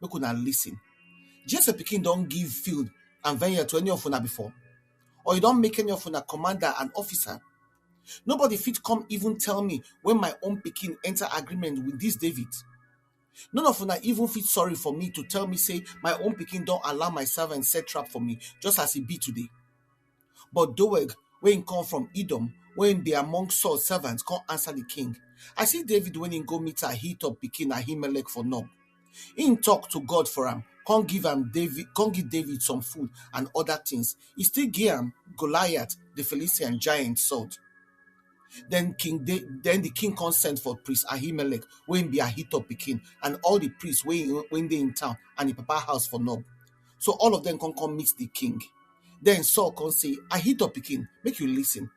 Make una listen. Jesse pikin don give field and vineyard to any of una before? Or e don make any of una commander and officer? Nobody fit come even tell me when my own pikin enter agreement with this David. None of una even fit sorry for me to tell me say my own pikin don allow my servant set trap for me just as e be today. But Doeg, wey im come from Edom, wey im dey among Saul servants, come answer the king, I see David when im go meet Ahitub pikin Ahimelech for Nob. Im talk to God for am, come give am David, come give David some food and other things. He still give am Goliath, the Philistine giant, sword. Then King da- then the king come send for priest Ahimelech, wey im be Ahitub pikin, and all the priests wey im- wey dey in town and im papa house for Nob. So all of them come come meet the king. Then Saul come say, I hit up king, make you listen.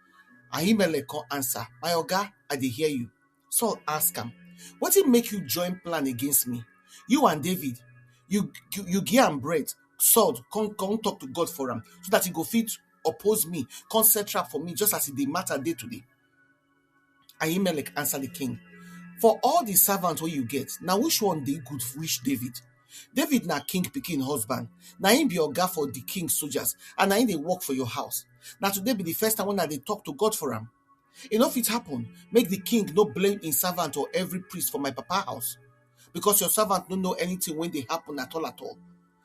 Ahimelech come answer, My oga, I dey hear you. Saul ask am, Wetin make you join plan against me? You and David, you you, you give am bread, sword, come come talk to God for am, so that he go fit oppose me, come set trap for me, just as e dey matter day today. Ahimelech answered the king, For all the servants wey you get, na which one dey good reach David? David na king pikin husband, na him be oga for the king soldiers, and na him dey work for your house. Na today be the first time when I dey talk to God for am. E no fit happen make the king no blame him servant or every priest for my papa house, because your servant no know anything wey dey happen at all at all.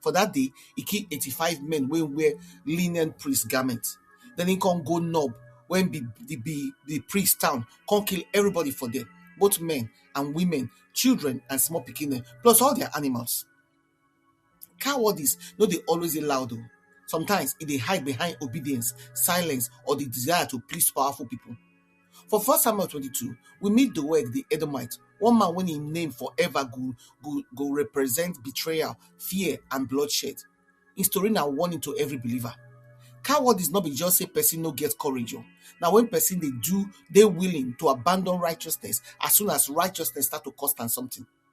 For that day, he killed 85 men wey wear linen priest garment. Then he come go Nob, when be the be the priest town, come kill everybody for there, both men and women, children and small pikin, plus all their animals. Cowardice no dey always dey loud. oh. Sometimes e dey hide behind obedience, silence, or the desire to please powerful people. For first Samuel twenty two, we meet Doeg di Edomite, one man wey im name forever go go go represent betrayal, fear and bloodshed. Im story na warning to every believer. Cowardice no be just sey person no get courage o, na when person dey do, dey willing to abandon righteousness as soon as righteousness start to cost am something.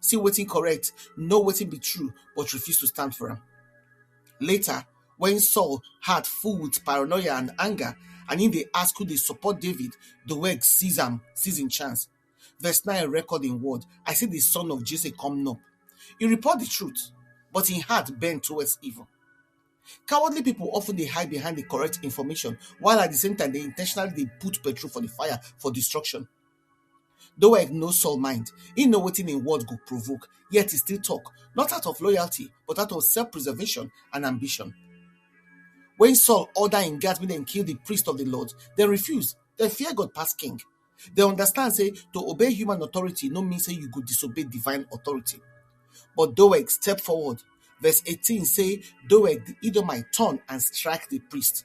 see wetin correct, know wetin be true, but refuse to stand for am. Later, when Saul heart full with paranoia and anger, and he dey ask who dey support David, Doeg seize am, seize him chance. Verse 9 record in word, I see the son of Jesse come up. He report the truth, but in heart bend towards evil. Cowardly people often they hide behind the correct information, while at the same time they intentionally they put petrol for the fire for destruction. Doeg know Saul mind, he know wetin im word go provoke, yet he still talk, not out of loyalty, but out of self-preservation and ambition. When Saul order im guards make dem kill the priest of the Lord, dem refuse. Dem fear God pass king. Dem understand say to obey human authority no mean say you go disobey divine authority. But Doeg step forward. Verse 18 say, Doeg the Edomite turn and strike the priest.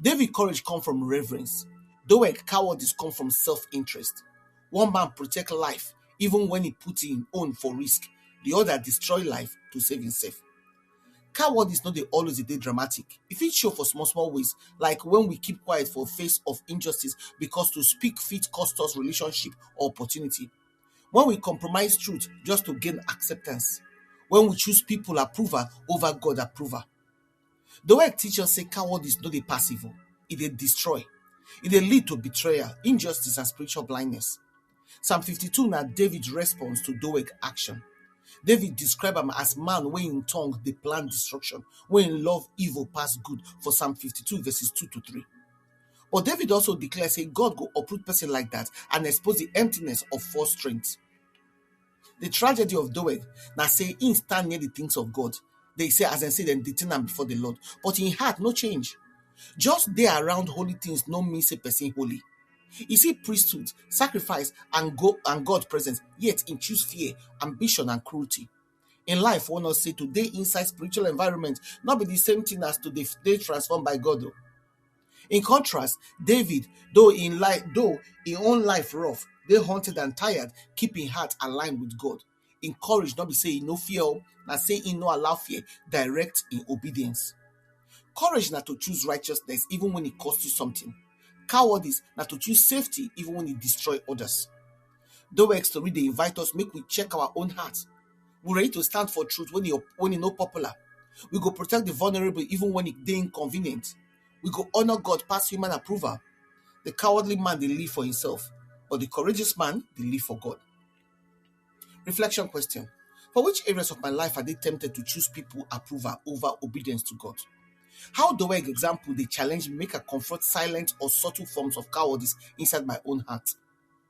David courage come from reverence. Doeg cowardice come from self-interest. One man protect life even when he put him own for risk. The other destroy life to save himself. Cowardice no dey always dey dramatic. E fit show for small small ways like when we keep quiet for face of injustice because to speak fit cost us relationship or opportunity. When we compromise truth just to gain acceptance. When we choose people approval over God approval. Doeg teach us say cowardice no dey pass evil, e dey destroy, e dey lead to betrayal, injustice and spiritual blindness. Psalm 52 na David response to Doeg action. David describe am as man wey im tongue dey plan destruction, wey im love evil pass good for Psalm 52 verses 2 to 3. But David also declare say God go uproot person like that and expose the emptiness of false strength. The tragedy of Doeg na say he stand near the things of God. They say as dem say dem dey think am before the Lord, but him heart no change. Just dey around holy things no mean say person holy. You see priesthood, sacrifice, and go and God presence, yet he choose fear, ambition, and cruelty. In life, one us say to dey inside spiritual environment, not be the same thing as to dey, dey transformed by God. oh. In contrast, David, though in life, though in own life rough, they hunted and tired, keep in heart aligned with God. In courage, not be say he no fear, oh, na say he no allow fear direct in obedience. Courage na to choose righteousness even when it costs you something. Cowardice na to choose safety even when it destroy others. Doex Tori dey invite us make we check our own heart. We ready to stand for truth when e when e no popular. We go protect the vulnerable even when it dey inconvenient. We go honor God pass human approval. The cowardly man dey live for himself, but the courageous man dey live for God. Reflection question. For which areas of my life I dey tempted to choose people approval over obedience to God? How do I example dey challenge me make I confront silent or subtle forms of cowardice inside my own heart?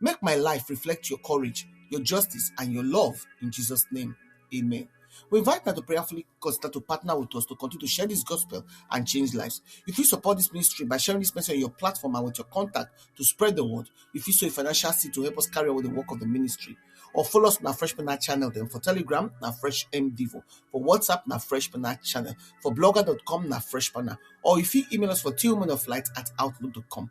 Make my life reflect your courage, your justice, and your love. In Jesus' name, amen. We invite now to prayerfully consider to partner with us to continue to share this gospel and change lives. If you support this ministry by sharing this message on your platform and with your contact to spread the word, if you sow a financial seed to help us carry out the work of the ministry, or follow us on our Fresh Pena channel then for Telegram, na Fresh MDivo, for WhatsApp, na Fresh Pena channel, for blogger.com, na Fresh Pena, or if you email us for tillmanoflight at outlook.com.